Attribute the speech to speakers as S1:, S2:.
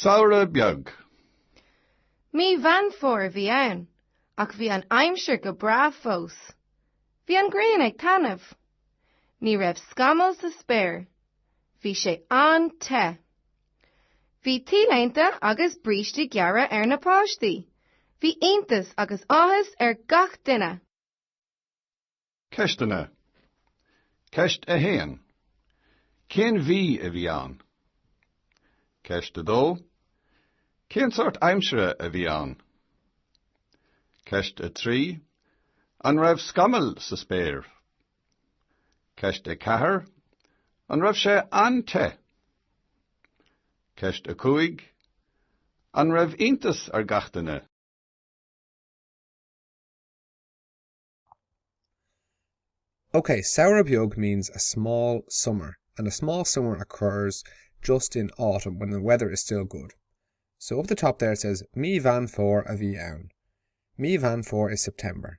S1: Samhradh beag.
S2: Mí Mheán Fómhair a bhí ann, ach bhí an aimsir go breá fós. Bhí an ghrian ag taitneamh. Ní raibh scamall sa spéir. Bhí sé an-te. Bhí T-léinte agus brístí gearra ar na páistí. Bhí iontas agus áthas ar gach duine. Ceisteanna
S1: Ceist 1 Cén mhí a bhí ann? Ceist 2 Cén sórt aimsire a bhí ann? Ceist 3 An raibh scamaill sa spéir? Ceist 4, An raibh sé an-te? Ceist 5, An raibh iontas ar gach duine?
S3: Ok, samhradh beag means a small summer, and a small summer occurs just in autumn when the weather is still good. So up the top there it says Mí Mheán Fómhair a bhí ann. Mí Mheán Fómhair is September.